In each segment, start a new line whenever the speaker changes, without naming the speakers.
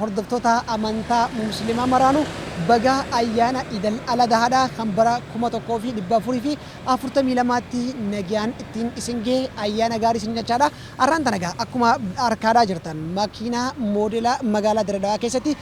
Hordoftootaa Amantaa Muslimaa maraanuu bagaa Ayyaana Idal Aladahaadhaa kan bara 1442tti nagyaan ittiin isin gahee Ayyaana gaarii isiniin jachaadha. Arraan tana egaa akkuma arkaadhaa jirtan makiinaa moodela magaalaa Dire Dawaa keessatti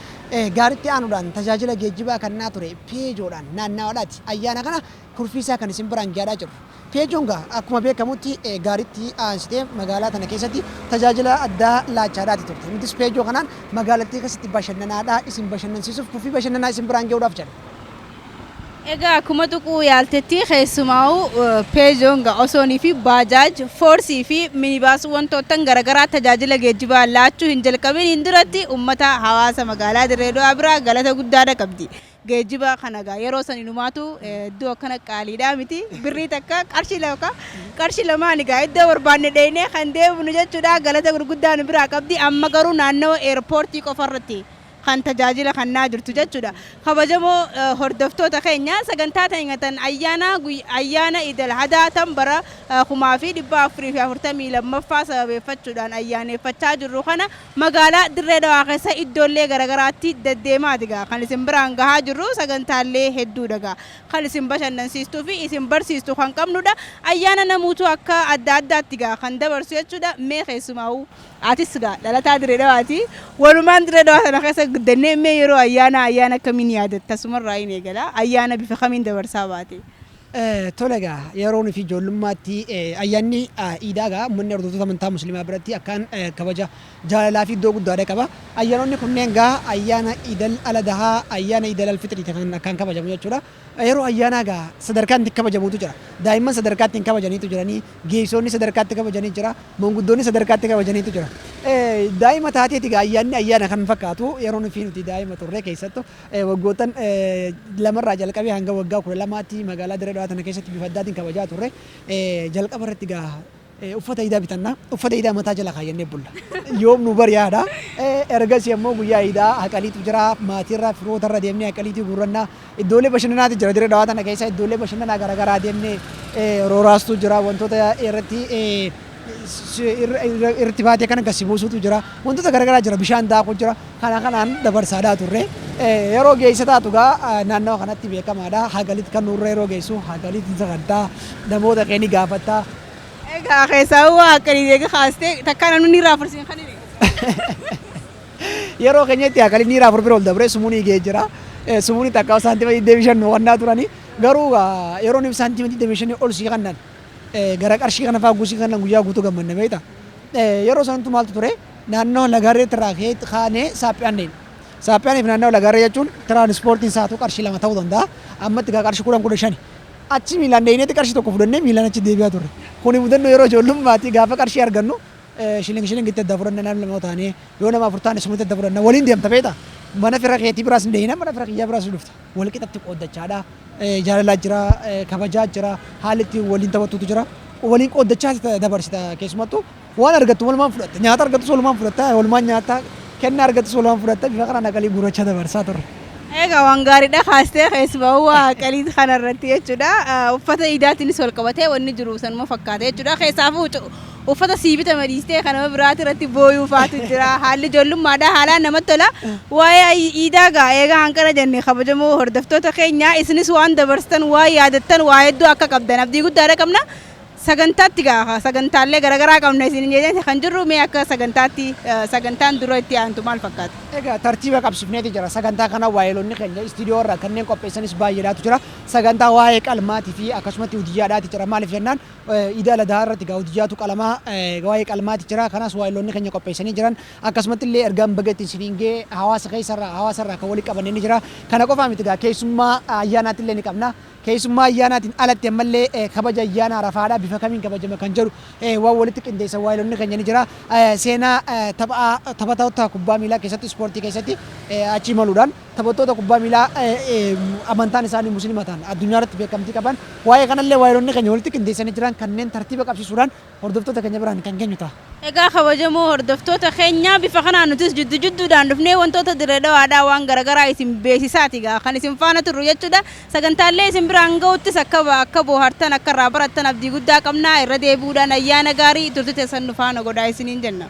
gaaritti aanuudhaan tajaajila geejjibaa kannaa ture Peejoodhaan naannaawaadhaati ayyaana kana kurfii isaa kan isin biraan geadhaa jirru. Pechonga akkuma beekamutti gaaritti aansitee magaalaa tana keessatti tajaajila addaa laachaadhaati turte. Nutis Peejoo kanaan magaalattii keessatti bashannanaadhaa isin bashannansiisuuf kurfii bashannanaa isin biraan ge'uudhaaf jedha.
Egaa akkuma tuquu yaaltetti keessumaa'u Peejoonga osoonii fi Baajaaj, Foorsii fi Minibaas wantoottan garagaraa tajaajila geejjibaa laachuu hin jalqabiniin duratti ummata hawaasa magaalaa Dirree Dawaa biraa galata guddaadha qabdi. Geejjiba kana egaa yeroo san inumaatu iddoo akkana qaaliidhaa miti. Birrii takka qarshii lama ka qarshii lamaan egaa iddoo barbaanne dheeynee kan deebinu jechuudha. Galata gurguddaa nu biraa qabdi. Amma garuu naannawa eerpoortii qofa irratti kan tajaajila kannaa jirtu jechuudha. Kabajamoo hordoftoota keenya sagantaa teenya tan ayyaanaa guyyaa ayyaana Iid Al Adhaa tan bara 1442ffaa sababeeffachuudhaan ayyaaneeffachaa jirru kana Magaalaa Dirree Dhawaa keessa iddoollee garagaraatti deddeemaati gaa kan isin biraan gahaa jirru sagantaallee hedduudha gaa kan isin bashannansiistuu fi isin barsiistu kan qabnudha ayyaana namuutu akka adda addaatti gaa kan dabarsu jechuudha mee keessumaa'u atis gaa dhalataa Dirree Dhawaati walumaan Dirree Dhawaa sana keessa guddannee mee yeroo ayyaanaa ayyaana akkamiin yaadatta asumarraayin eegala ayyaana bifa kamiin dabarsaa baate. Tole
egaa yeroo nuti ijoollummaatti ayyaanni iidaa egaa uummanni hordoftoota amantaa musliimaa biratti akkaan kabaja jaalalaa fi iddoo guddaadha qaba. Ayyaanonni kunneen egaa ayyaana iidal aladahaa, ayyaana iidal alfixrii kan akkaan kabajamu jechuudha. Yeroo ayyaanaa egaa sadarkaan itti kabajamutu jira. Daa'imman sadarkaa ittiin kabajaniitu jiranii, geessoonni sadarkaa itti kabajanii jira, manguddoonni sadarkaa itti kabajaniitu jira. Daa'ima taateeti egaa ayyaanni ayyaana kan fakkaatu yeroo nuti daa'ima turre keessattu. Waggoottan lama irraa jalqabee hanga waggaa 12tti magaalaa Dirree Dhawaa tana keessatti bifa addaatiin kabajaa turre. Jalqaba irratti egaa uffata iidaa bitanna. Uffata iidaa mataa jala kaayyannee bulla. Yoom nu bari yaada. Ergasii ammoo guyyaa iidaa haqaliitu jira. Maatii irraa firoota irra deemnee haqaliitii guurranna. Iddoolee bashannanaati jira Dirree Dhawaa tana keessa iddoolee bashannanaa garaagaraa deemnee rooraastuu jira. Wantoota irratti irratti baatee kana gad si buusuutu jira. Wantoota garaagaraa jira. Bishaan daakuu jira. Kana kanaan dabarsaadhaa turre. Yeroo geessa taatu gaa naannawa kanatti beekamaadha. Hagalitti kan nurra yeroo geessu hagalitti sagaddaa namoota kee ni gaafatta. Egaa
keessaa huu haaqalii deega kaastee takkaa namni ni raafursiin kan hime.
Yeroo keenyatti haaqalii ni raafur bira ol dabree sumuunii ga'ee jira. Sumuunii takkaa saantima 25 nu kannaa turani. Garuu gaa yeroo nuuf saantima 25 ol si kannan Gara qarshii kana faa gusii kanaan guyyaa guutuu gammanna beekta. Yeroo sanattu maaltu ture naannoo Lagaarreetti irraa ka'ee kaanee Saaphiyaan deemne. Saaphiyaanii fi naannoo Lagaarree jechuun tiraanispoortiin saatuu qarshii lama ta'uu danda'a. Ammatti gaa qarshii kudhan kudha shani. Achi miilaan deeyneetti qarshii tokko fudhannee miilaan achi deebi'aa turre. Kuni mudannoo yeroo ijoollummaati gaafa qarshii argannu shiling shilingitti adda fudhanna namni lama yoo taane yoo nama afur taane sumatti adda fudhanna waliin deemta beekta. Mana fira keetii biraas hin deeyna mana fira kiyyaa biraas ni dhufta. walqixatti qooddachaa dha. Jaalalaa jira, kabajaa jira, haalli ittiin waliin taphattutu jira. Waliin qooddachaas dabarsita keessumattuu waan argattu walumaan fudhatta. Nyaata argattus walumaan fudhatta, walumaan nyaatta, kennaa argattus walumaan fudhatta. Bifa kanaan aqalii guurrachaa dabarsaa turre. Egaa waan gaariidha
kaastee keessumaa waa qalii kanarratti jechuudha. Uffata iidaatiinis wal qabatee wanni jiru sanuma fakkaata jechuudha. Keessaafuu Uffata sii bitame dhiistee kan nama biraati irratti booyuu faatu jira. Haalli ijoollummaadha. Haalaan namatti tola. Waa'ee ayyi iidaa gaa eegaa hanqana jenne kabajamoo hordoftoota keenya isinis waan dabarsitan waan yaadattan waa hedduu akka qabdan abdii guddaadha qabna. Sagantaatti gaa sagantaallee garagaraa qabna isiniin jennee kan jirru mee akka sagantaatti sagantaan dura itti aantu maal fakkaata? Egaa tartiiba
qabsifneeti jira. Sagantaa kana waayeloonni keenya istiidiyoo irraa kanneen qopheessanis baay'eedhaatu jira. Sagantaa waa'ee qalmaati fi akkasumatti hudiyyaadhaati jira. Maaliif jennaan Iida Al Adhaa irratti egaa Udhiyaatu qalamaa egaa waa'ee qalmaati jira kanas waa'illoonni keenya qopheessanii jiran akkasumatti illee ergaan baga ittiin isiniin ga'e hawaasa keessa irraa hawaasa irraa kan walitti qabanne ni jira kana qofaa miti egaa keessummaa ayyaanaatti illee ni qabna keessummaa ayyaanaatiin alatti ammallee kabaja ayyaana arafaadha bifa kamiin kabajama kan jedhu waan walitti qindeessan waa'illoonni keenya ni jira seenaa taphaa taphattoota kubbaa miilaa keessatti ispoortii keessatti achi imaluudhaan Taphattoota kubbaa miilaa amantaan isaanii Muslima ta'an, addunyaa irratti beekamtii qaban, waa'ee kana illee waayilonni keenya walitti qindeessanii jiran kanneen tartiiba qabsiisuudhaan hordoftoota keenya biraan kan geenyu ta'a. Egaa kabajamoo
hordoftoota keenyaa bifa kanaan nutis jiddu jidduudhaan dhufnee wantoota Dirree Dhawaadhaa waan gara garaa isin beeksisaati egaa kan isin faana turru jechuudha. Sagantaalee isin biraan ga'uttis akka akka boohartan akka irraa barattan abdii guddaa qabna. Irra deebi'uudhaan ayyaana gaarii turtii teessan nu faana godhaa isiniin jenna.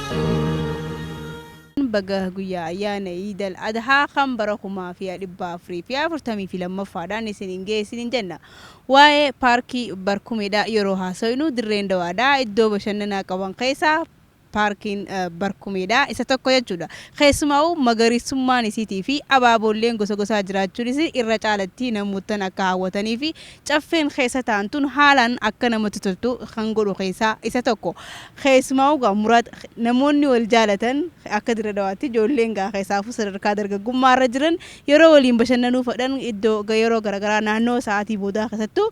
Baga guyyaa ayyaana Iidal Adhaa kan bara 5442ffaan isiniin gahe isiniin jenna. Waa'ee Paarkii Barkumeedhaa yeroo haasofnu Dirreen Dawaadhaa iddoo bashannanaa qaban keessaa Paarkiin Barkumeedhaa isa tokko jechuudha. Keessumaa'uu magariisummaan isiitiifi abaaboolleen gosa gosaa jiraachuun isii irra caalatti namoottan akka hawwataniifi Caffeen keessa taa'an tun haalaan akka namatti toltu kan godhu keessaa isa tokko. Keessumaa'uu egaa Muraad namoonni wal jaalatan akka Dirre Dhawaatti ijoolleen egaa keessaafuu sadarkaa dargaggummaa irra jiran yeroo waliin bashannanuu fedhan iddoo yeroo garagaraa naannoo sa'aatii boodaa keessattuu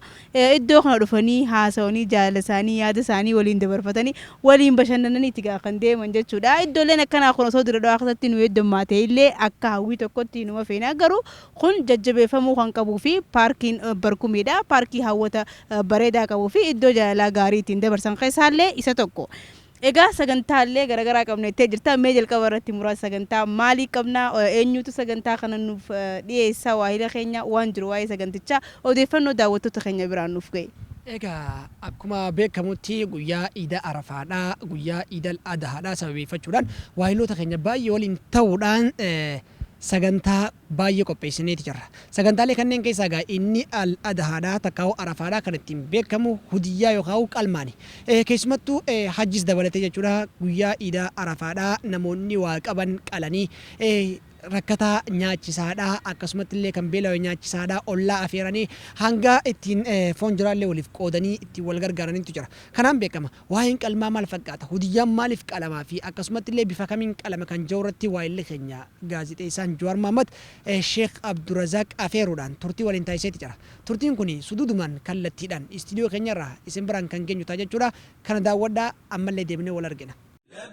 iddoo kana dhufanii haasawanii jaalala isaanii yaada isaanii waliin dabarfatanii waliin bashannananiiti egaa kan deeman jechuudha. Iddooleen akkanaa kun osoo Dirre Dhawaa keessatti nu heddummaatee illee akka hawwii tokkotti numa feena garuu Kun jajjabeeffamuu kan qabuu fi paarkiin Barkumii dha. Paarkii hawwata bareedaa qabuu fi iddoo jaalalaa gaarii ittiin dabarsan keessaa illee isa tokko. Egaa sagantaa illee garagaraa qabna jettee jirta. Mee jalqaba irratti muraasa sagantaa maalii qabna? Eenyuutu sagantaa kana nuuf dhiyeessa? Waahila keenya waan jiru waa'ee sagantichaa odeeffannoo daawwattoota keenya biraan nuuf ga'i. Egaa
akkuma beekamutti guyyaa Iida Arafaa dha. Guyyaa Iidal Adahaa dha. Sababeeffachuudhaan waahiloota keenya baay'ee waliin ta'uudhaan, sagantaa baay'ee qopheessineeti jirra. Sagantaalee kanneen keessaa egaa inni Al Adhaadha takkaahuu Arafaadha kan ittiin beekamu hudiyyaa yookaahuu qalmaani. Keessumattuu hajjis dabalatee jechuudha guyyaa iida Arafaadha namoonni waa qaban qalanii rakkataa nyaachisaadha akkasumattillee kan beelawe nyaachisaadha ollaa afeeranii hanga ittiin foon jiraallee waliif qoodanii ittiin wal gargaaranittu jira. Kanaan beekama. Waa'een qalmaa maal fakkaata? Hudiyyaan maaliif qalama fi akkasumatti illee bifa kamiin qalama kan jedhu irratti waayilli keenya Gaazixeessaan Jawaar Mohammed Sheikh Abdurazaaq Afeeruudhaan turtii waliin taasiseeti jira. Turtiin kun suduudumaan kallattiidhaan istiidiyoo keenya irraa isin biraan kan geenyu ta'a jechuudha. Kana daawwadhaa ammallee deebinee wal argina.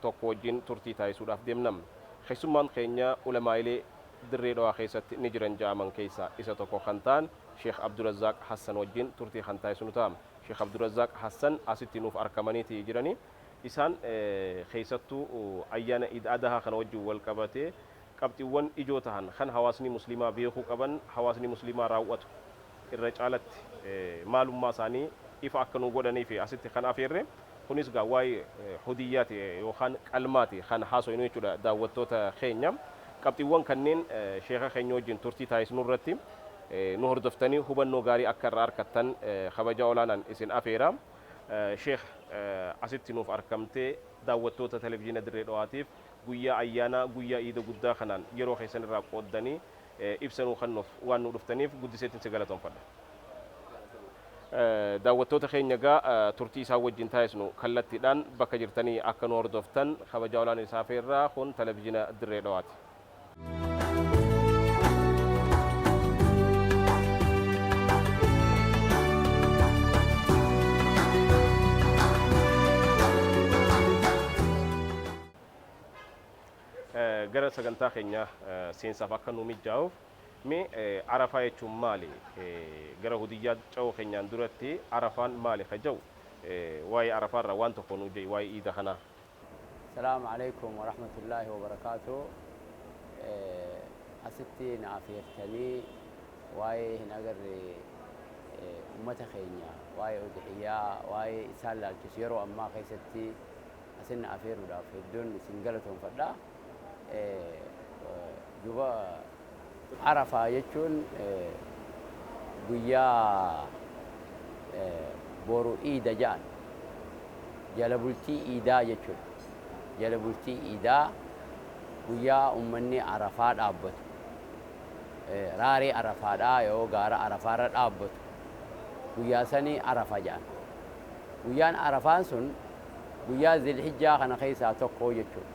tokko wajjin turtii taasisuudhaaf deemna. Keessummaan keenya ulamaa'ilee Dirree Dhawaa keessatti ni jiran ja'aman keessaa isa tokko kan ta'an Sheikh Abdurazaaq Hassan wajjin turtii kan taasisnu ta'a. Sheikh Abdurazaaq Hassan asitti nuuf arkamaniiti jirani. Isaan keessattuu ayyaana Iid Adahaa kana wajjin wal qabatee qabxiwwan ijoo tahan kan hawaasni musliimaa beekuu qaban hawaasni musliimaa raaw'atu irra caalatti maalummaa isaanii ifa akka nuu godhaniifi asitti kan afeerre. Kunis egaa waa'ee hudiyyaati yookaan qalmaati kan haasoynu jechuudha daawwattoota keenya. Qabxiwwan kanneen sheeka keenya wajjin turtii taasisnu irratti nu hordoftanii hubannoo gaarii akka irraa arkattan kabaja olaanaan isin afeera. Sheekh asitti nuuf arkamtee daawwattoota Televizhiina Dirree Dhawaatiif Guyyaa ayyaanaa, guyyaa iida guddaa kanaan yeroo keessan irraa qooddanii ibsa nuu kennuuf waan nuu dhuftaniif guddiseetin si galatoomfadha. Daawwattoota keenya egaa turtii isaan wajjin taasisnu kallattiidhaan bakka jirtanii akka nu hordoftan kabajaa olaanaa isin afeerra. Kun Televizhiina Dirree Dhawaati. Eh, gara sagantaa keenya eh, seensaaf akka nu mijaa'uuf mee eh, arafaa jechuun maali Eh, gara hudiyyaa ca'uu keenyaan duratti arafaan maali ka ja'u Eh, waa'ee arafaa irraa waan tokko nu ja'e waa'ee iida kanaa Salaam
Aleykum Warahmatullahi Wabarakatuh Asitti na afeertanii waa'ee hin agarre ummata keenya waa'ee udhiyyaa waa'ee isaan laalchisu yeroo ammaa keessatti asin na afeeruudhaaf hedduun isin galatoomfadha. Duuba Arafaa jechuun guyyaa boru iida ja'an. Jala bultii iidaa jechuudha. Jala bultii iidaa guyyaa ummanni arafaa dhaabbatu. Raaree arafaadhaa yoo gaara arafaarra dhaabbatu guyyaa sani arafa ja'an. Guyyaan arafaan sun guyyaa zilhijjaa kana keessaa tokko jechuudha.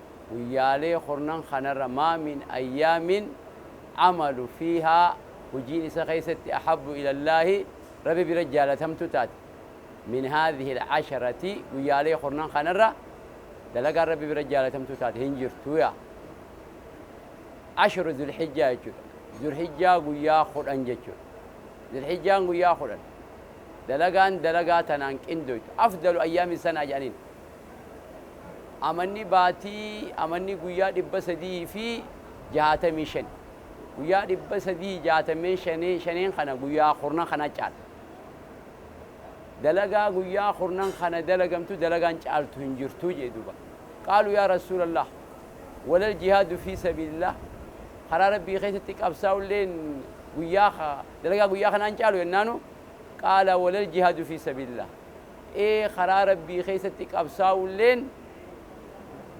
guyyaalee kurnan kanarra maa min ayyaamin amalu fiihaa hujiin isa keessatti ahabbu ila Allaahi Rabbi bira jaalatamtu taate min haadhihi alcasharati guyyaalee kurnan kanarra dalagaan Rabbi bira jaalatamtu taate hin jirtu yaa ashru zulhijjaa jechuudha zulhijjaa guyyaa kudhan jechuudha zulhijjaan guyyaa kudhan dalagaan dalagaa tanaan qindoytu afdalu ayyaami sanaa jedhaniin amanni baatii amanni guyyaa 365 guyyaa 365 kana guyyaa kurnan kana caala dalagaa guyyaa kurnan kana dalagamtu dalagaan caaltu hin jirtu jee duuba qaalu yaa rasuulallah walal jihaadu fii sabiilillah karaa rabbii keessatti qabsaa'ulleen guyyaa dalagaa guyyaa kanaan caalu jennaanu qaala walal jihaadu fii sabiilillah ee karaa Rabbii keessatti qabsaawulleen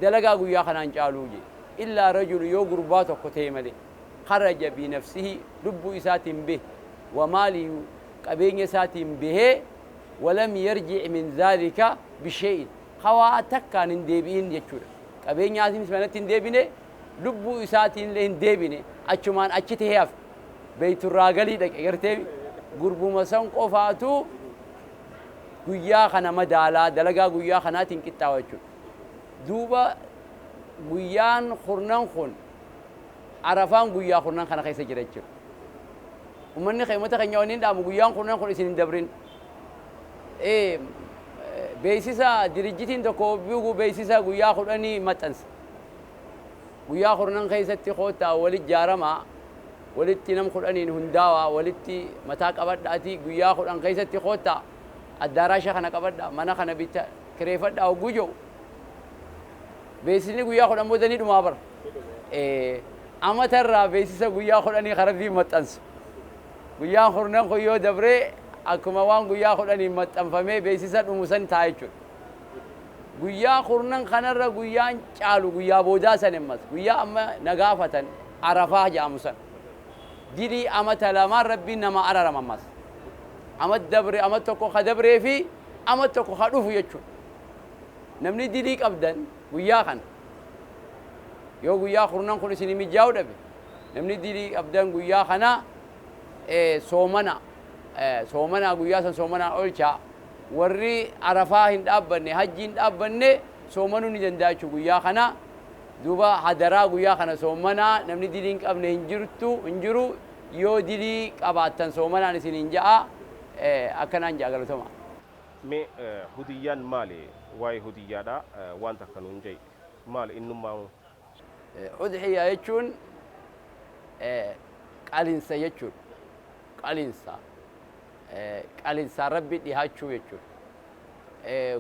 dalagaa guyyaa kanaan caaluu je. Illaa rajulu yoo gurbaa tokko ta'e malee kharaja bi nafsihi lubbuu isaatiin behe wa maalihi qabeenya isaatiin behee wa lam yarji'i min zaalika bi shay'in kha waa takkaan hin deebi'in jechuudha qabeenyaatiinis manatti hin deebine lubbuu isaatiinillee hin deebine achumaan achi ta'ee hafe beeyturraagalii dhaqe garteemi gurbuma san qofaatu guyyaa kana madaalaa, dalagaa guyyaa kanaatiin qixxaawa jechuudha. Duuba guyyaan kurnan kun Arafaan guyyaa kurnan kana keessa jira jechuudha. Ummanni keenya ummata keenya wanni hin dhaamu guyyaan kurnan kun isin hin dabrin. Ee, beeksisa dirijjitiin tokko bigu beeksisa guyyaa kudhanii maxxanse. Guyyaa kurnan keessatti koottaa wal ijaaramaa. Walitti nam kudhaniin hundaawaa, walitti mataa qabadhaatii guyyaa kudhan keessatti koottaa, addaaraasha kana qabadhaa, mana kana bitta, kireefadhaa hogguu jedhu, beeksisni guyyaa kudhan booda ni dhumaa bar? Ee. Amata irraa beeksisa guyyaa kudhanii kan Rabbiin maxxansu. Guyyaan kurnan kun yoo dabree akkuma waan guyyaa kudhaniin maxxanfamee beeksisa dhumu san ta'a jechuudha. Guyyaa kurnan kanarra guyyaan caalu guyyaa boodaa san emmas guyyaa amma na gaafatan Arafaah jedhamu san dilii amata lamaan Rabbiin namaa ararama ammas amat dabre amat tokko ka dabree fi amat tokko ka dhufu jechuun namni dilii qabdan guyyaa kana yoo guyyaa kurnan kun isinii mijjaa'u dhabe namni dilii qabdan guyyaa kana soomana soomanaa guyyaa san soomanaan olchaa Warri Arafaa hin dhaabbanne, Hajjii hin dhaabbanne soomanuu ni danda'a jechuudha guyyaa kana. Duuba hadaraa guyyaa kana soomanaa, namni dilii hin qabne hin jirtu, hin jiru. Yoo dilii qabaattan soomanaan isiniin ja'a. Akkanaan ja'a galatomaa. Mee
hudiyyaan maali? Waa'ee hudiyyaadhaa waan takka nuun ja'i. Maali innummaahuu?
Udhiyyaa jechuun qalinsa jechuudha. Qalinsa. Qalinsaan Rabbii dhihaachuu jechuudha.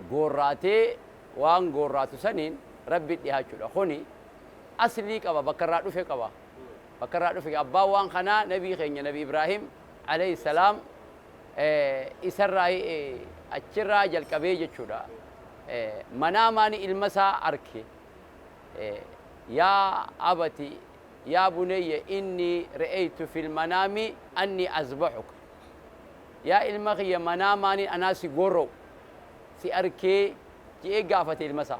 Goorraatee waan goorraatu saniin Rabbii dhihaachuudha. Kuni aslii qaba, bakka irraa dhufe qaba. Bakka irraa dhufe abbaan waan kanaa nabii keenya nabi Ibraahim alayhi salaam isarraa achirraa jalqabee jechuudha. Manaamaani ilma isaa arke. Yaa abati yaa bunayya innii re'eytu fil manaami annii azbahuka Yaa ilma kiyya manaamaanin anaa si gorra'u si arkee je'ee gaafate ilma isaa.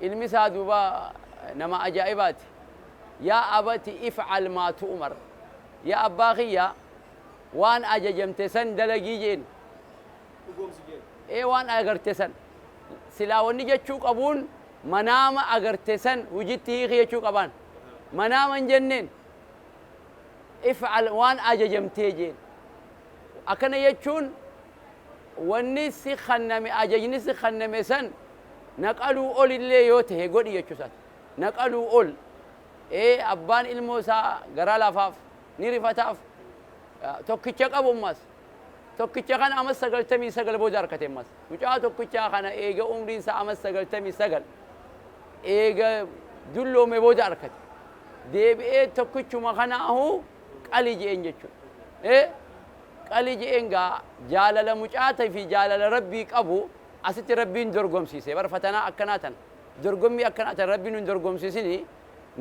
Ilmi isaa duuba nama ajaa'ibaati. Yaa abati if'al maa tu'umar Yaa abbaa kiyya waan ajajamte san dalagii je'een. dhugoomsi jeedha. Ee waan agarte san silaa wanni jechuu qabuun manaama agarte san hujitti hiiki jechuu qabaan. Manaama hin jenneen. If'al waan ajajamtee jeen. Akkana jechuun wanni si kanname ajajni si kanname san naqaluu ol illee yoo tahe godhi jechuu isaati. Naqaluu ol. Ee abbaan ilmoo isaa garaa laafaaf ni rifataaf. Tokkicha qabu ammaas. tokkicha kana amas 99 booda arkate ammas mucaa tokkichaa kana eega umriin isaa amas 99 eega dulloome booda arkate deebi'ee tokkichuma kana ahu qali je'een jechu e qali je'een gaa jaalala mucaata fi jaalala rabbii qabu asitti rabbiin dorgomsiise bar fatanaa akkanaa tana dorgommii akkanaa tana rabbiin hin dorgomsiisini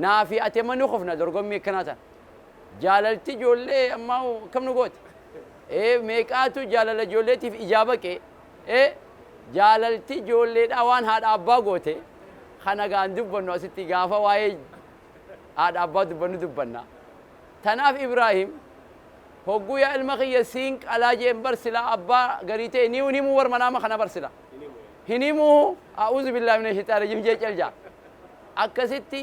naa fi ati amma ni kufna dorgommii akkanaa tana Jaalalti ijoollee ammaa hoo akkam nu goote? Ee, meeqaatu jaalala ijoolleetiif ijaa baqe? Ee, jaalalti ijoolleedhaa waan haadha abbaa goote kana egaa hin dubbannu asitti gaafa waa'ee haadha abbaa dubbannu dubbanna. Tanaaf Ibraahim hogguu yaa ilma kiyya siin qalaa je'een bar silaa abbaa garii ta'e ni hin himuu bar manaama kana bar sila. Hin himuu a'uuzu billaahi mina shayxaani rajiim je'e cal ja'a. Akkasitti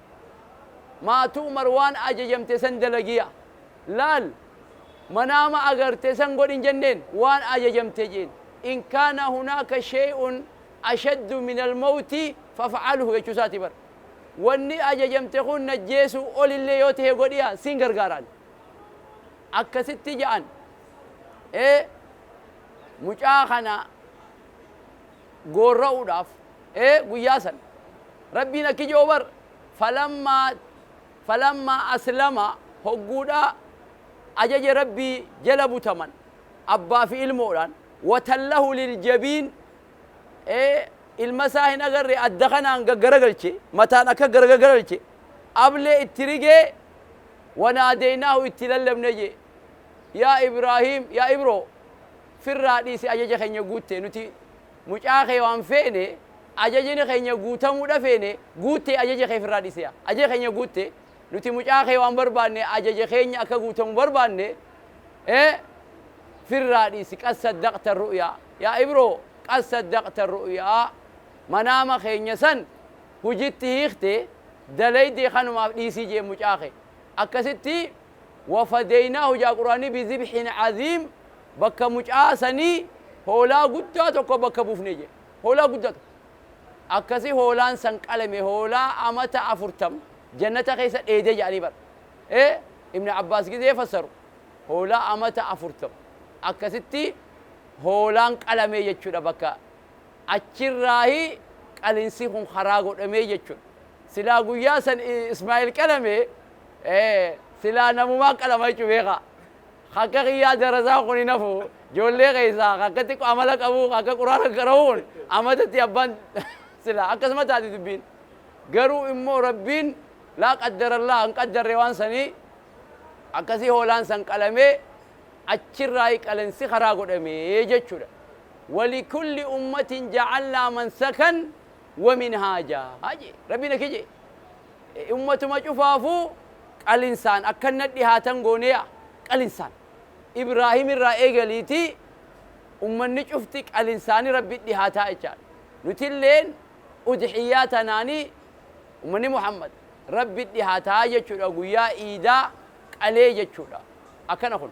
Maatu Umar waan ajajamte san dalagi yaa. Laal! Manaama agarte san godhi hin jenneen? Waan ajajamte jeen. In kaana hunaaka shey'un ashaddu minal mawti faf'alhu jechuu isaati bar. Wanni ajajamte kun najjeesuu olillee yoo tahe godhi yaa, siin gargaaraan. Akkasitti ja'an. Ee! Mucaa kana. goorra'uudhaaf, ee guyyaa san. Rabbiin akki je'u bar, Falammaa, falammaa aslama, hogguudha ajaja Rabbii jala butaman, abbaa fi ilmoodhaan, watallahu liljabiin, ee ilma isaa hin agarre adda kanaan gaggaragalche, mataan akka garagagaralche, ablee itti rigee, wanaadeynaahu itti lallabne je'e, yaa Ibraahiim, yaa Ibroo, firraa dhiisi ajaja keenya guutte nuti mucaa kee waan feene ajajini keenya guutamuudha feene guutte ajaja kee firraa dhiisi yaa ajaja keenya guutte nuti mucaa kee waan barbaanne ajaja keenya akka guutamu barbaanne ee firraa dhiisi qad saddaqta ru'yaa yaa ibroo qad saddaqta ru'yaa manaama keenya san hujitti hiikte dalayde kanumaaf dhiisii jeen mucaa kee akkasitti Wafadaynaahu jaa quraanii bizibhin aziim bakka mucaa sanii hoolaa guddaa tokko bakka buufne jee hoolaa guddaa tokko akkasi hoolaan san qalame hoolaa amata afurtama jannata keessa dheede jaanii bar ee ibn abbaas gizee fassaru hoolaa amata afurtama akkasitti hoolaan qalamee jechudha bakka achirraahi qalinsi kun karaa godhamee jechudha silaa guyyaa san ismaa'il qalame Ee silaa namumaa qalama jechu beeka ka akka kiyyaa darasaan kun hin hafu joollee keessaa ka akka xiqqo amala qabu ka akka quraana qara'u kun amatatti abbaan silaa akkasuma taati dubbiin garuu immoo rabbiin laa qaddarallaa hin qaddarre waan sanii akkasii hoolaan san qalamee achirraa qalensi karaa godhamee jechuudha walikulli ummatin ja'alnaa mansakan wamin haajaa jee rabbiin akki jee e ummatuma cufaafu qalinsaan akkan nadhi haatan goone yaa qalinsaan ibrahim irraa eegaliiti ummanni cufti qalinsaani rabbi dhihaataa jechaadha nutilleen udhiyyaa tanaani ummanni muhammad rabbi dhihaataa jechuudha guyyaa iidaa qalee jechuudha akkana kun.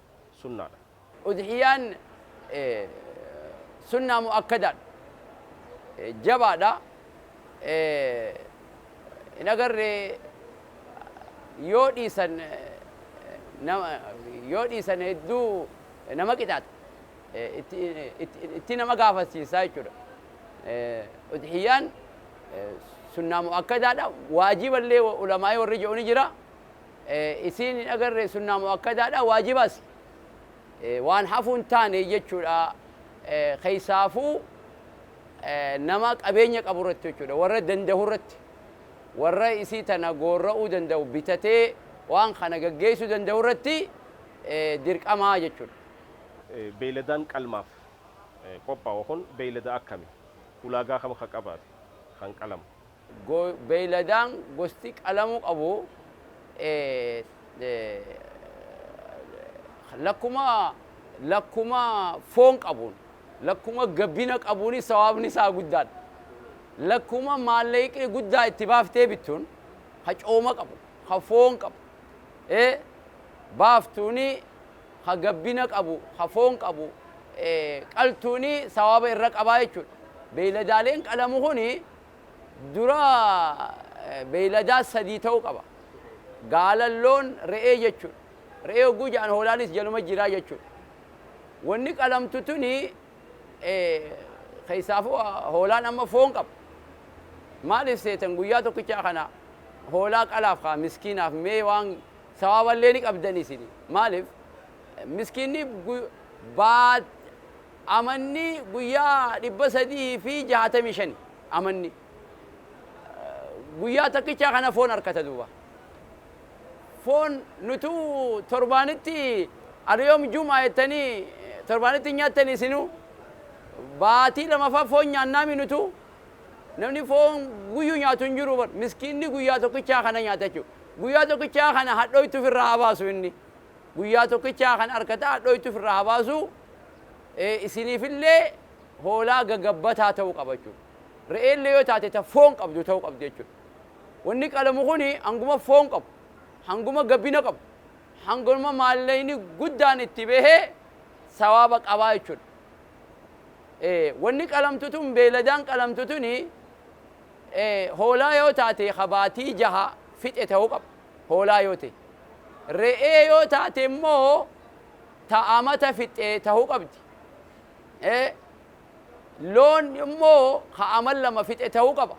sunnaadha. Udhiyaan
sunnaa mu'akkadaadha. Jabaadha. Hin agarre yoo dhiisan yoo dhiisan hedduu nama qixaaxa. Itti nama gaafachiisa jechuudha. Udhiyaan sunnaa mu'akkadaadha. Waajiballee ulamaa'ii warri je'u ni jira. isiin hin agarre sunnaa mu'akkadaadha waajibas waan hafuu hin taane jechuudha keessaafuu nama qabeenya qabu irratti jechuudha warra dandahu irratti warra isii tana goorra'uu dandahu bitatee waan kana gaggeessuu dandahu irratti dirqamaa jechuudha. Beeyladaan
qalmaaf qophaa'u kun beeylada akkami? Ulaagaa kam ka qabaate kan qalamu? go Beeyladaan
gosti qalamuu qabu lakkuma lakkuma foon qabuun, lakkuma gabbina qabuuni sawaabni isaa guddaadha. Lakkuma maallaqni guddaa itti baaftee bittuun, ka cooma qabu, ka foon qabu, ee baaftuuni ka gabbina qabu, ka foon qabu qaltuuni sawaaba irra qabaa jechuudha. Beeyladaaleen qalamu kuni Dura beeyladaa sadii ta'uu qaba. Gaalan, loon, re'ee jechuudha. Re'ee hogguu ja'an hoolaanis jaluma jira jechuudha. Wanni qalamtu tuni keessaafuu hoolaan amma foon qaba. Maaliif seetan guyyaa tokkichaa kana hoolaa qalaaf kaa miskiinaaf mee waan sawaaballee ni qabdanii isin maaliif miskiinni baat Amanni guyyaa 365 amanni guyyaa takkichaa kana foon arkata duuba foon nutuu torbaanitti alyoom jum'a jettanii torbaanitti hin nyaattan isinuu baatii lamaffaa foon nyaannaami nutuu namni foon guyyuu nyaatu hin jiru bar miskiinni guyyaa tokkichaa kana nyaata jechuu guyyaa tokkichaa kana hadhooytu firraa habaasu inni guyyaa tokkichaa kan arkata hadhooytu firraa habaasu Isiniif illee hoolaa gagabbataa ta'uu qaba jechuudha. Re'ee illee yoo taate ta foon qabdu ta'uu qabdi jechuudha. Wanni qalamu kun hanguma foon qabu, hanguma gabbina qabu, hanguma maallayni guddaan itti bahe sawaaba qabaa jechuudha. Wanni qalamtu tun beeladaan qalamtu tun hoolaa yoo taate ka baatii jaha fixe ta'uu qaba. Hoolaa yoo ta'e. Re'ee yoo taate immoo ta amata fixxe tahuu qabdi. e Loon immoo ka ama lama fixe tahuu qaba.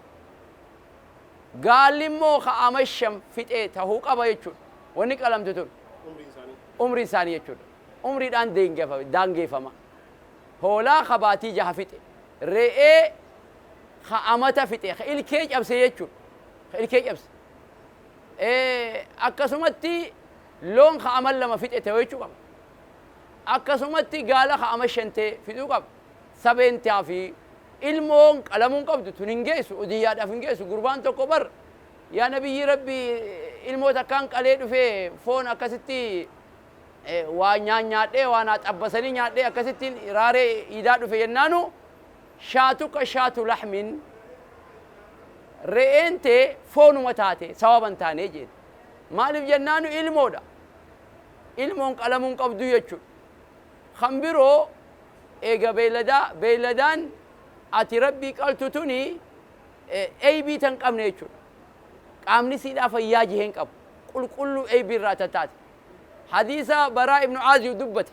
Gaalli immoo ka ama shan fixe tahuu qaba jechuudha. Wanni qalamtu tun. Umriin isaanii. Umriin isaanii jechuudha. Umriidhaan deengefa- daangeefama. Hoolaa ka baatii jaha fixe. Re'ee ka amata fixe. Ka ilkee cabse jechuudha. Ka ilkee cabse. e Akkasumatti Loon ka aman lama fixe teoichu qaba. Akkasumatti gaala ka aman shan te fixuu qaba. Sabeen tea fi ilmoon qalamuu hin qabdu. Tun hin geessu. Udhiyyaadhaaf hin geessu. Gurbaan tokko bar yaa Nabiyyii Rabbii ilmoo takkaan qalee dhufee foon akkasitti waa nyaanyaadhee waa naa xabbasanii nyaadhee akkasittiin raaree iidaa dhufe jennaanu shaatuka shaatu lahmin re'een tee foonuma taate sawaaba hin taane jeen. Maaliif jennaanu ilmoodha. Ilmoon qalamuu hin qabdu jechuudha. Kan biroo eega beeyladaa beeyladaan ati Rabbii qaltu tuni eybii tan qabne jechuudha. Qaamni isiidhaa fayyaa jihee hin qabu. Qulqulluu eybii irraa tan taate. Hadiisa Baraa ibnu Aaziyu dubbate.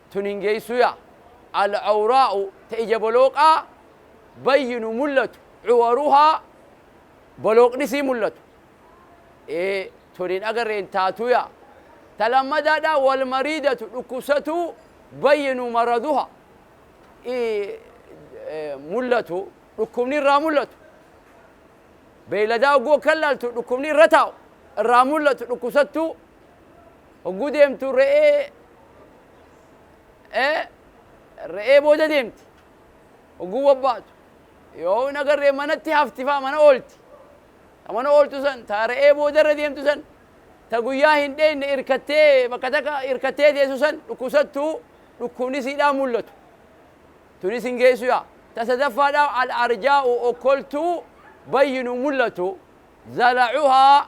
tun hin geessuu yaa. Al-Awraa'u ta ija bolooqaa bayyinu mullatu Cuwaruhaa bolooqni isii mullatu ee tun hin agarre hin taatuu yaa. Ta lammadaadhaa Wal-Mariidatu dhukkubsatuu bayyinu Maraduhaa ii mullatu dhukkubni irraa mullatu beeyladaa hogguu akkan laaltu dhukkubni irra taa'u irraa mullatu dhukkubsattuu Hogguu deemtu re'ee ee, re'ee booda deemti. Hogguu bobbaatu yoo hin agarree manatti hafti fa'a mana oolti. Ta mana ooltu san ta re'ee boodarra deemtu san ta guyyaa hin dheeyne irkattee bakka takka irkattee teessu san dhukkubsattu dhukkubni siidhaa mul'atu. Tunis hin geessu yaa. Ta sadaffaadhaa al-arjaa'u okkoltuu bayyinu mul'atu zalacuhaa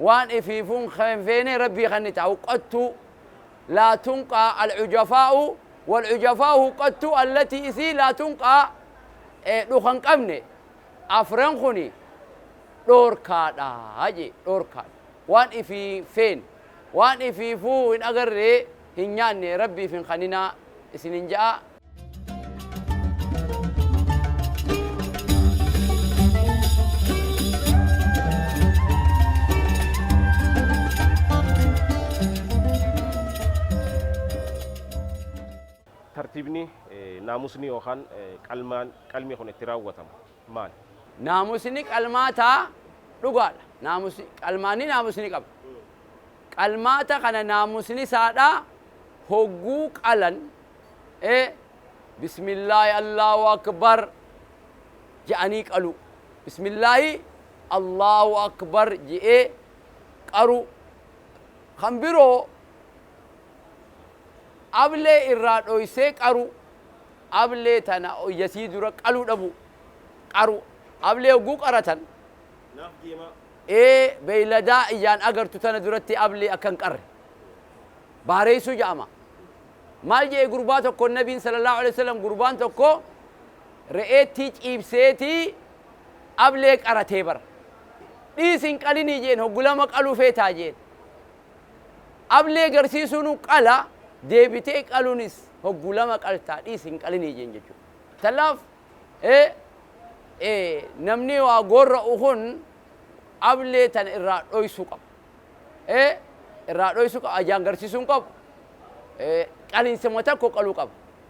Waan ifiifuun keen feenee Rabbii kannita huqqattuu laa tunqaa alhujafaa'u walhujafaa'u huqqattuu allatii isii laa tunqaa ee dhuka hin qabne afran kuni dhoorkaadha jee dhoorkaadha waan ifii hin feene waan ifiifuu hin agarree hin nyaanne Rabbiif hin kaninaa isinin ja'aa
tartiibni naamusni yookaan qalmaan qalmi kun itti raawwatamu. maal? Naamusni
qalmaata dhugaadha. Naamusi, qalmaanni naamus ni qaba. Qalmaata kana naamusni isaa dha hogguu qalan e Bismillaahi Allaahu Akbar je'anii qaluu. Bismillaahi Allaahu Akbar je'ee qaruu. Kan biroo ablee irraa dhoysee qaruu. ablee tana yasii dura qaluu dhabuu qaruu ablee hogguu qaratan Naaf deemaa. ee beyladaa ijaan agartu tana duratti ablee akka hin qarre baareysuu ja'ama maal je'e gurbaa tokkoon nabiin sallallahu aleyhi wasallam gurbaan tokko re'eettii ciibseetii ablee qaratee bar dhiis hin qalinii jeen hoggu lama qaluu feetaa jeen Ablee garsiisuunu qala, deebitee qalunis hoggu lama qalta dhiisi hin qalinii jeen jechuu. Tanaaf e e namnii waa goorra'u kun ablee tana irraa dhoysu qaba. e irraa dhoysu qaba ajaan garsiisu hin qabu. e qalinsuma takko qalu qaba.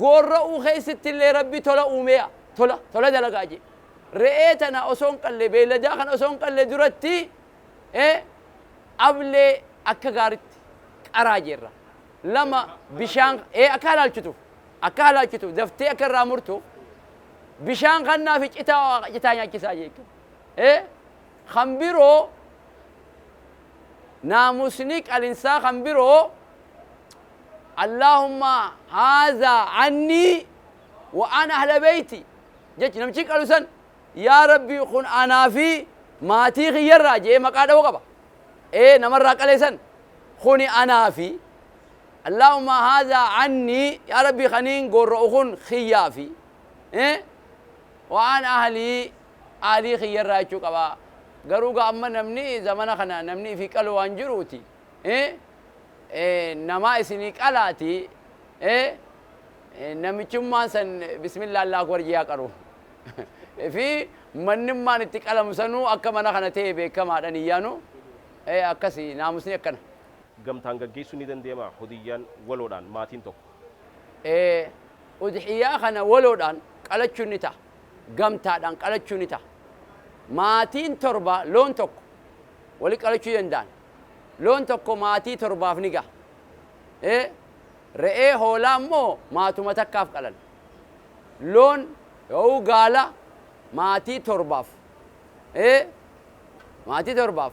Goorra'uu keessttillee Rabbi tola uumee'a. Tola, tola dalagaa'a je'e. Re'ee tana osoo hin qalle, beeyladaa kana osoo hin qalle duratti, ee, ablee akka gaaritti qaraa jeerra. 2, Bishaan, ee, akka halaalchituuf, akka halaalchituuf, daftee akka irraa murtuuf, bishaan kannaa fi citaa, citaa nyaachisaa je'e jechuudha. Ee, kan biroo, naamusni qalinsaa kan biroo, Allaahumma haazaa annii wa an ahla beyti jechi namchi qalu san yaa rabbii kun anaa fi maatii kiyyarraa je'ee maqaa dhawu qaba ee namarraa qale san kuni anaa fi Allaahumma haazaa annii yaa rabbii kaniin goorra'u kun kiyyaa fi ee wa an ahlii ahlii kiyyarraa jechuu qaba garuu ga amma namni zamana kana namni ifii qalu waan jiruuti namaa isinii qalaati namichummaan san bismillah allah akbar jiyaa qaru fi mannimmaan itti qalamu sanuu akka mana kana ta'e beekamaadha niyyaanu akkasi naamusni akkana. Gamtaan gaggeessuun
ni dandeemaa hudiyyaan waloodhaan maatiin tokko. Udhiyyaa kana waloodhaan
qalachuun ni ta'a. Gamtaadhaan qalachuu ni ta'a. Maatiin torba loon tokko wali qalachuu danda'an. Loon tokko maatii torbaaf ni gaha. e. Re'ee hoolaa immoo maatuma takkaaf qalan. Loon yoouu gaala maatii torbaaf. e. Maatii torbaaf.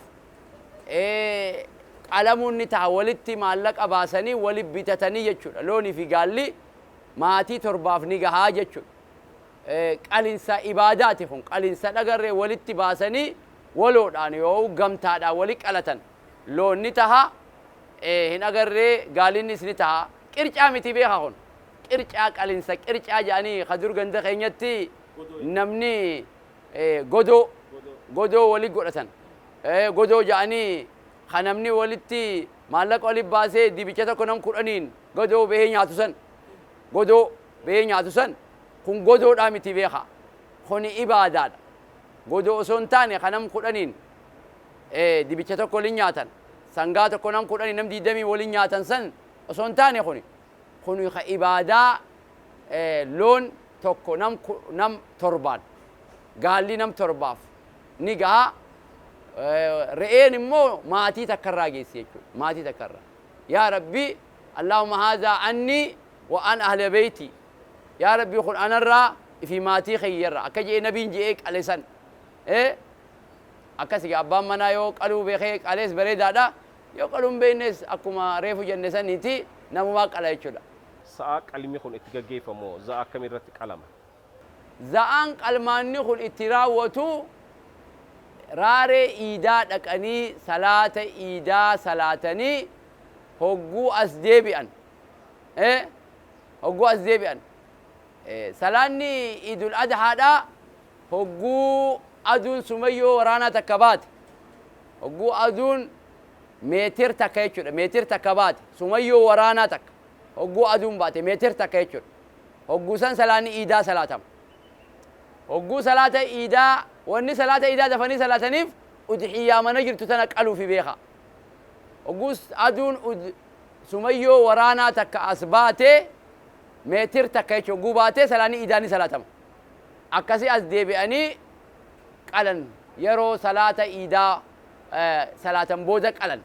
e. Qalamuun ni taha walitti maallaqa baasanii wali bitatanii jechuudha. Loonii fi gaalli maatii torbaaf ni gaha jechuudha. qalinsa ibaadaati kun qalinsa dhagarree walitti baasanii waloodhaan yoo'u gamtaadhaan wali qalatan loon ni taha hin agarree gaalinnis ni taha qircaa miti beeka kun qircaa qalinsa qircaa jedhanii ka dur ganda keenyatti namni godoo godoo wali godhatan godoo jedhanii ka namni walitti maallaqa wali baasee dibicha tokko nam kudhaniin godoo bahee nyaatu san Godoo beyee nyaatu san kun godoodhaa miti beeka kuni ibaadaadha godoo osoo hin taane ka nam kudhaniin dibicha tokko walin nyaatan sangaa tokko nam kudhanii nam digdamii walin nyaatan san osoo hin taane kuni kuni ka ibaadaa loon tokko nam nam torbaan gaalli nam torbaaf ni gaha re'een immoo maatii takka irraa geessi jechuudha maatii takka irraa yaa rabbii Allaahumma haazaa anni wa an ahla beeytii Yaa Rabbii kun anarraa fi maatii kiyyarraa akka je'ee nabiin je'ee qale san ee akkas egaa abbaan manaa yoo qaluu beekee qalees bareedaadha yoo qaluu hin beeknees akkuma reefu jenne saniiti namumaa qala jechuudha. Sa'a qalmi
kun itti gaggeeffamu hoo za'a akkamii irratti qalama? Za'aan
qalmaanni kun itti raawwatu raaree iidaa dhaqanii salaata iidaa salaatanii hogguu as deebi'an hogguu as deebi'an salaanni iidul adhaadhaa hogguu aduun sumayyoo waraanaa takka baate hogguu aduun meetir takka jechuudha meetir takka baate sumayyoo waraanaa takka hogguu aduun baate meetir takka jechuudha hogguu san salaanni iidaa salaatama. Hogguu salaata iidaa wanni salaata iidaa dafanii salaataniif udhiyyaa mana jirtu tana qaluufi beekhaa. Hogguu aduun sumayyoo waraanaa takka as baate meetir takka jechu hogguu baate salaanni iidaa ni salaatama. Akkasi as deebi'anii qalan yeroo salaata iidaa salaatan booda qalan.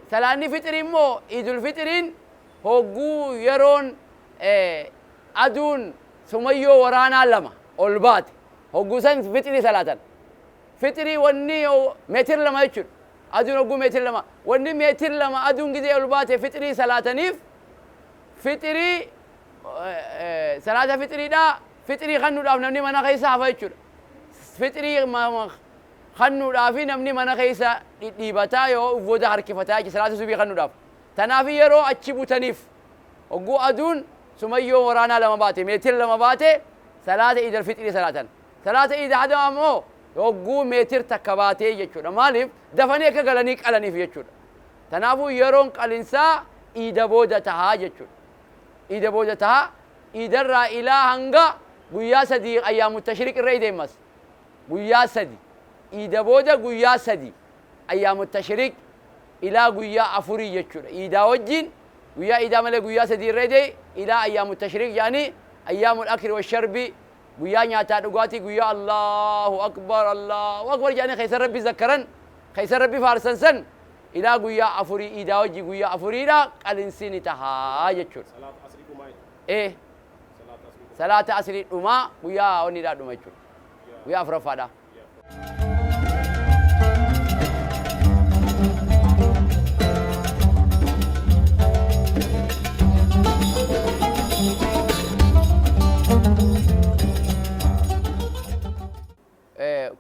Salaanni fixrii immoo iidul fixriin Hogguu yeroon aduun sumayyoo waraanaa lama ol baate hogguu san fixrii salaatan. Fixrii wanni meetir lama jechuudha. Aduun hogguu meetir lama wanni meetir lama aduun gizee ol baate fixrii salaataniif fixrii salaata fixriidhaa fixrii kannuudhaaf namni mana keessa hafa jechuudha. Fixrii kannuudhaafi namni mana keessa dhidhiibataa yoo uf booda harkifataa jechuudha salaata subii kannuudhaaf. Tanaafi yeroo achi butaniif hogguu aduun sumayyoo waraanaa lama baate, meetira lama baate salaata iid alfixrii salaatan. Salaata iid hadamaa ammoo hogguu meetir takka baatee jechuudha. Maaliif? Dafanii akka galanii qalaniif jechuudha. Tanaafuu yeroon qalinsaa iida booda taha jechuudha. Iida booda taha. Iidarraa ilaa hanga guyyaa sadii ayyaamu tashriiq irra ideemas. Guyyaa sadi. Iida booda guyyaa sadi. Ayyaamu Tashriiq, ilaa guyyaa afurii jechuudha. Iidaa wajjiin, guyyaa iidaa malee guyyaa sadii irra edee ilaa Ayyaamu Tashriiq jedhanii, Ayyaamul Akli wa Sharbi, guyyaa nyaataa dhugaatii, guyyaa Allaahu Akbar, Allaahu Akbar jedhanii keessa Rabbi zakkaran, keessa Rabbi faarsan san ilaa guyyaa afurii, iidaa wajjiin guyyaa afuriidha, qalinsii ni taha jechuudha. Salaata Asrii dhumaa jechuudha. Ee. Salaata Asrii dhumaa. Salaata Asrii dhumaa, guyyaa wanniidhaa dhuma jechuudha. Guyyaa afuraffaadhaa.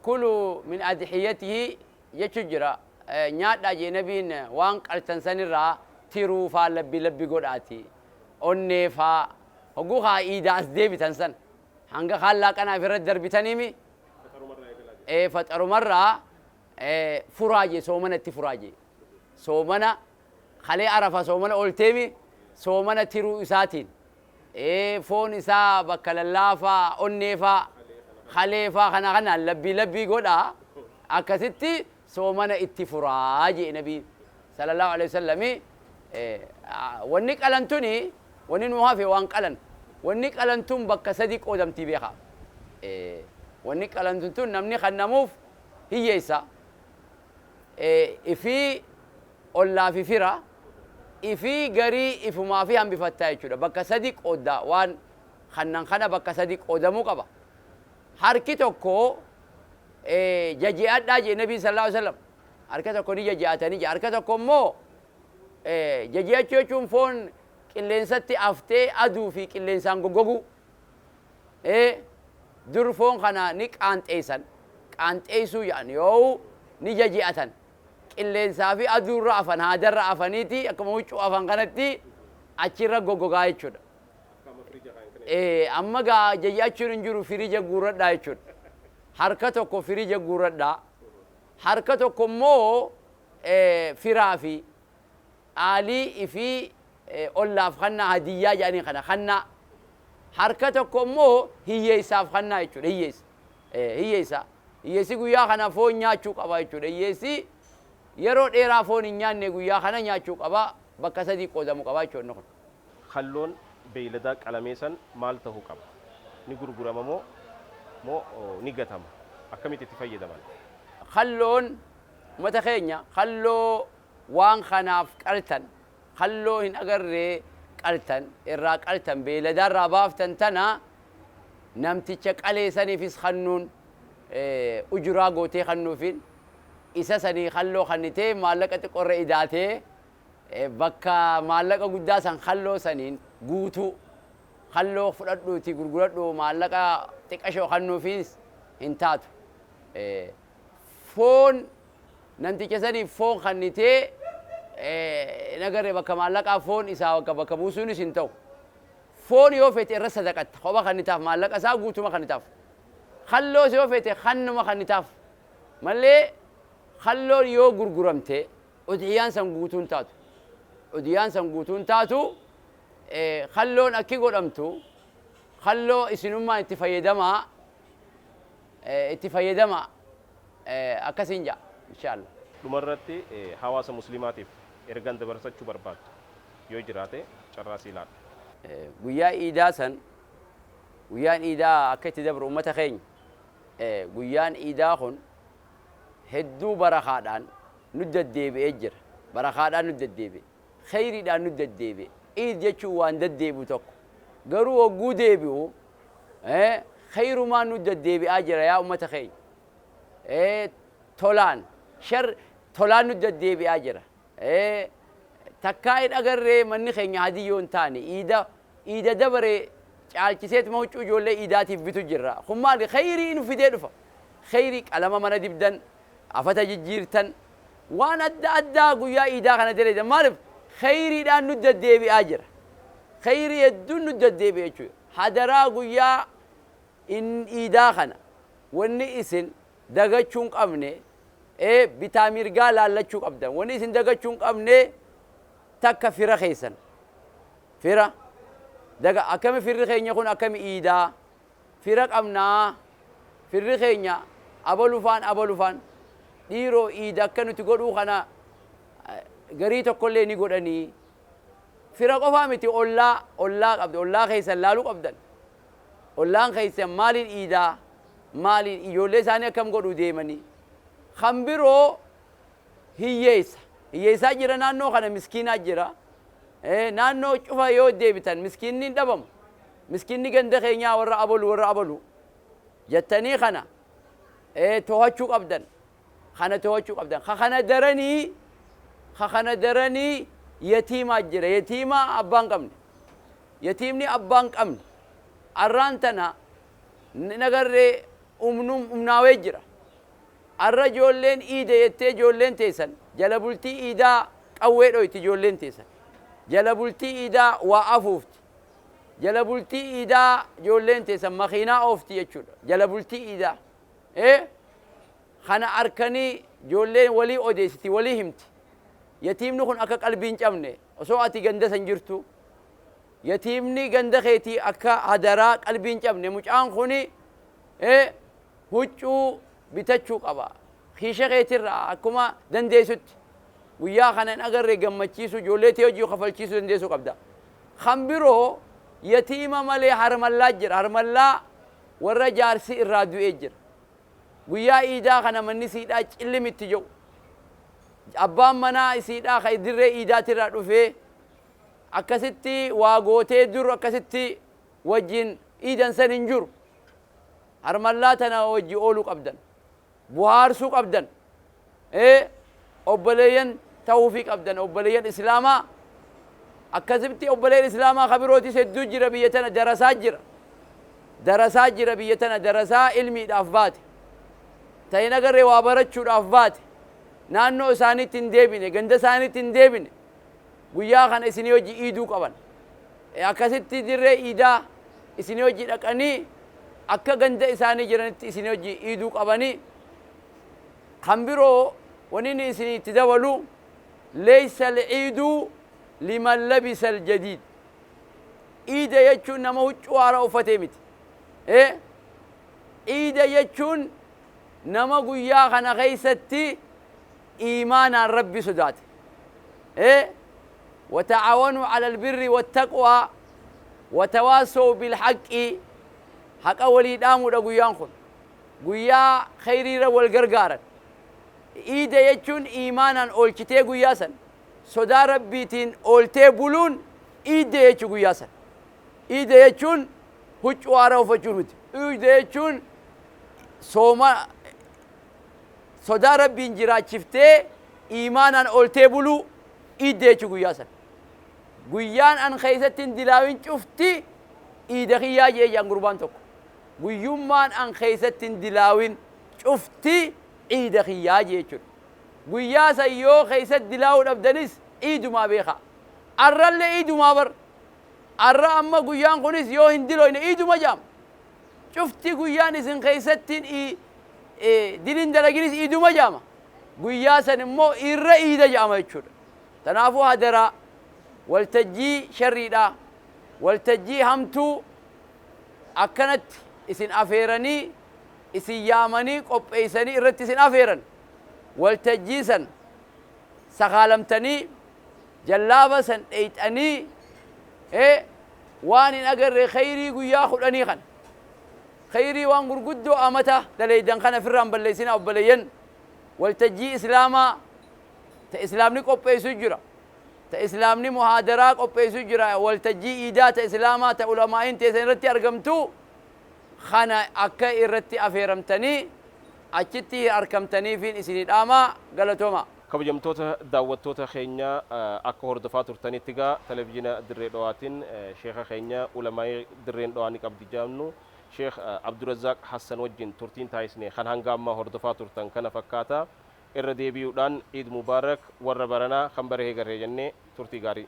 kulu min adhiyatihi jechu jira nyaadhaa jee nabiin waan qaltan sanirraa tiruu faa labbi labbi godhaati onnee faa hogguu kaa iidaa as deebitan san Hanga kaan laaqanaa ifi irratti darbitaniimi ee faxaruma irraa ee furaa jee soomana itti furaa jee soomana kalee arafa soomana olteemi soomana tiruu isaatiin ee foon isaa bakka lallaafaa onneefaa kaleefaa kana kanaan labbii labbii godhaa akkasitti soomana itti furaa je'e nabiin salallaahu aleyhi wasallami wanni qalan tuni wanni nuu hafe waan qalan wanni qalan tun bakka sadi qoodamti beekha wanni qalantu tun namni kannamuuf hiyyeysa ifii ollaa fi fira ifii garii ifumaafi hambifatta jechuudha bakka sadi qoodda waan kannan kana bakka sadi qoodamuu qaba Harki tokko jaji'adhaa je'e nabiin sallallaahu aleyhi wasallam. Harka tokko ni jaji'atanii je'e. Harka tokko immoo jaji'achuu jechuun foon qilleensatti aftee aduu fi qilleensaan goggoguu. Ee dur foon kana ni qaanxeessan. Qaanxeessuu ja'an yoowuu ni jaji'atan. Qilleensaa fi aduurra afan haadarra afaniiti akkuma huccuu afan kanatti achirra goggogaa jechuudha. Ee amma egaa jaj'achuun hin jiru firija guuradhaa jechuudha. Harka tokko firija guuradhaa. Harka tokko immoo firaa fi aalii ifii ollaaf kannaa hadiyyaa jedhanii kana kannaa. Harka tokko immoo hiyyeessaaf kannaa jechuudha hiyyeessa. Ee hiyyeessa. Hiyyeessi guyyaa kana foon nyaachuu qaba jechuudha. Hiyyeessi yeroo dheeraa foon hin nyaanne guyyaa kana nyaachuu qaba bakka sadii qoodamu qaba jechuudha inni kun. Kalloon
beeyladaa qalamee san maal tahu qaba? Ni gurgurama moo moo ni gatama? Akkamitti itti fayyadaman? Kalloon
umata keenya kalloo waan kanaaf qaltan, kalloo hin agarree qaltan, irraa qaltan, beeyladaa irraa baaftan tana namticha qalee saniifis kannuun ujuraa gootee kannuufiin, isa sanii kalloo kannitee maallaqa xiqqoo irra idaatee, Bakka maallaqa guddaa san kalloo saniin guutuu. Kalloo fudhadhuutii gurguradhu maallaqa xiqqashoo kannuufiis hin taatu. Foon namticha saniif foon kannitee hin agarre bakka maallaqaa foon isaa bakka buusuunis hin ta'u. Foon yoo feete irra sadaqatta kopha kannitaaf maallaqa isaa guutuma kannitaaf. Kalloos yoo feete kannuma kannitaaf malee kalloon yoo gurguramte Udhiyaan san guutuu hin taatu. Udhiyaan san guutuu hin taatu, kalloon akki godhamtu, kalloo isinummaan itti fayyadamaa, itti fayyadamaa, akkasiin ja'a. Inshaalla. Dhuma irratti
hawaasa muslimaatiif ergan dabarsachu barbaaddu yoo jiraate carraa sii laadha. Guyyaa
iidaa san, guyyaan iidaa akka itti dabru ummata keenya, guyyaan iidaa kun hedduu barakaadhaan nutti deddeebi'ee jira. Barakaadhaan nutti deddeebi'e. Kheyriidhaan nutti deddeebi'e. Iid jechuun waan deddeebi'u tokko. Garuu hogguu deebi'u kheyrumaan nutti deddeebi'aa jira yaa ummata keenya. Tolaan, sharri tolaan nutti deddeebi'aa jira. Takkaa hin agarree manni keenya Hadiyyoo hin taane iida Iida dabare caalchiseetuma huccuu ijoollee iidaatiif bitu jirra. Kun maali? Kheeyrii nu fidee dhufa. Kheeyrii qalama mana dibdan, afata jijjiirtan, waan adda addaa guyyaa iidaa kana dalaydan. Maalif? Kheeyriidhaan nut daddeebi'aa jira. Kheeyrii hedduun nut daddeebi'e jechuu dha. Hadaraa guyyaa iidaa kana wanni isin dagachuu hin qabne, ee bitaa mirgaa laallachuu qabdan. Wanni isin dagachuu hin qabne takka fira keessan. Fira, daga akkami firri keenya kun akkami iidaa? Fira qabnaa? Firri keenya abalu faan abalu faan dhiiroo iida akka nuti godhuu kana garii tokkollee ni godhanii? Fira qofaa miti ollaa ollaa qabda ollaa keessan laaluu qabdan. Ollaan keessan maaliin iidaa? Maaliin ijoollee isaanii akkam godhuu deemanii? Kan biroo Hiyyeessa. Hiyyeessaa jira naannoo kana miskiinaa jira. Ee naannoo cufa yoo deebitan miskiinni hin dhabamu. Miskiinni ganda keenyaa warra abalu warra abalu jattanii kana ee toohachuu qabdan. Kana toohachuu qabdan. Ka kana daranii ka kana daranii yatiimaa jira. Yatiimaa abbaa hin qabne. Yatiimni abbaa hin qabne arraan tana hin agarree umnuum umnaawee jira. Arra ijoolleen iide jettee ijoolleen teessan jala bultii iidaa qawwee dhoyti ijoolleen teessan jala bultii iidaa waa afuufti jala bultii iidaa ijoolleen teessan makiinaa oofti jechuudha jala bultii iidaa ee kana arkanii ijoolleen walii odeessiti walii himti yatiimni kun akka qalbii hin cabne osoo ati ganda san jirtuu yatiimni ganda keetii akka hadaraa qalbii hin cabne mucaan kuni ee Huccuu bitachuu qaba. Kiisha keetirraa akkuma dandeessutti guyyaa kana hin agarre gammachiisuu, ijoollee tee hojii kafalchiisuu dandeessuu qabda. Kan biroo yatiima malee harmallaa jira. Harmallaa warra jaarsi irraa du'ee jira. Guyyaa iidaa kana manni isiidhaa cillim itti ja'u. Abbaan manaa isiidhaa ka dirree iidaatirraa dhufee akkasitti waa gootee dur akkasitti wajjin iidan san hin jiru. Harmallaa tana wajji oolu qabdan. Buhaarsuu qabdan. Ee obboleeyyan tahuufii qabdan obboleeyyan islaamaa. Akkasitti obboleeyyan islaamaa ka birootis hedduu jira biyya tana darasaa jira. Darasaa jira biyya tana darasaa ilmiidhaaf baate. Ta hin agarre waa barachuudhaaf baate. Naannoo isaaniitti hin deebine ganda isaaniitti hin deebine. Guyyaa kana isinii wajji iiduu qaban. Akkasitti dirree iidaa isinii wajji dhaqanii akka ganda isaanii jiranitti isinii wajji iiduu qabani. Kan biroo wanini isinii itti dabalu Leeysa al-iidu liman labisa al-jadiid. Iida jechuun nama huccuu haaraa uffatee miti. Iida jechuun nama guyyaa kana keessatti iimaanaan Rabbi sodaate. e Wata'aawanuu alal birri wattaqwaa Watawaassawuu bil haqqi Haqa walii dhaamuudha guyyaan kun. Guyyaa kheyriirra wal gargaaran. Iida jechuun iimaanaan oolchitee guyyaa san sodaa Rabbiitiin ooltee buluun iidde jechu guyyaa san. Iida jechuun huccuu haaraa uffachuu miti. Iida jechuun sooma sodaa Rabbiin jiraachiftee iimaanaan ooltee buluu, iidda jechuu guyyaa san. Guyyaan an keessatti hin dilaawin cufti iida kiyyaa je'e je'an gurbaan tokko. Guyyummaan an keessatti hin dilaawin cufti iida kiyyaa je'e jechuudha. Guyyaa san yoo keessatti dilaawuu dhabdanis iidumaa beekhaa. Arrallee iidumaa bar. Arra amma guyyaan kunis yoo hin dilooyne iiduma je'ama. Cuftii guyyaan isin keessatti hin iidin hin dalaginis iiduma jedhama. Guyyaa san immoo irra iida jedhama jechuudha. Tanaafuu hadaraa waltajjii sharriidhaa, waltajjii hamtuu akkanatti isin afeeranii, isin yaamanii qopheessanii irratti isin afeeran waltajjii san sakaalamtanii Jallaaba san dheyxanii ee waan hin agarre kheeyrii guyyaa khudhanii khana. Kheeyrii waan gurguddoo amata daleydan khana firraa hin balleysina obboleeyyan. Waltajjii islaamaa ta islaamni qopheeysu jira. Ta islaamni muhaadaraa qopheeysu jira. Waltajjii iidaa ta islaamaa ta ulamaa'iin teeysan irratti argamtu khana akka irratti afeeramtanii achitti arkamtaniifiin isinii dhaamaa. Galatoomaa. Kabajamtoota
daawwattoota keenya akka hordofaa turtanitti egaa Televizhiina Dirree Dhawaatiin Sheekha keenya Ulamaa'ii Dirreen Dhawaa ni qabdi jedhamnu Sheekh Abdurazzaaq Hassan wajjin turtiin taasisne kan hanga ammaa hordofaa turtan kana fakkaata. Irra deebi'uudhaan Iid Mubaarak warra baranaa kan bara eegarree jennee turtii gaarii.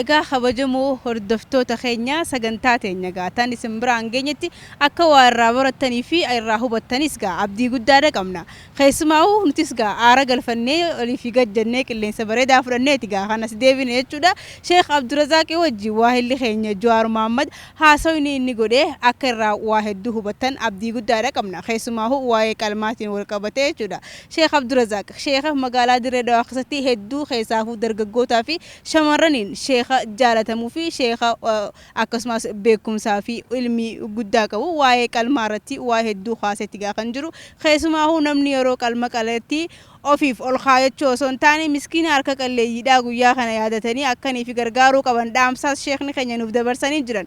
Egaa
kabajamoo hordoftoota keenya sagantaa teenya egaa tan isin biraan geenyetti akka waa irraa barattanii fi irraa hubattanis egaa abdii guddaadha qabna. Keessumaa'uu nutis egaa aara galfannee olii fi gad jennee qilleensa bareedaa fudhanneeti egaa kan as deebine jechuudha. Sheikh Abdurazaaqii wajjin waahilli keenya Juwaar Muhammad haasawni inni godhe akka irraa waa hedduu hubattan abdii guddaadha qabna. Keessumaa'uu waa'ee qalmaatiin wal qabatee jechuudha. Sheikh Abdurazaaq, Sheikha magaalaa Dirree Dawaa keessatti hedduu keessaafuu dargaggootaa fi Shamarraniin sheekha jaalatamu fi sheekha akkasumaas beekumsaa fi ilmii guddaa qabu waa'ee qalmaa irratti waa hedduu kaasetti gaa kan jiru keessumaahuu namni yeroo qalma qaletti ofiif ol kaayachuu osoo hin taane miskiina harka qalleeyyiidhaa guyyaa kana yaadatanii akkan ifi gargaaruu qaban dhaamsaas sheekni keenya nuuf dabarsanii jiran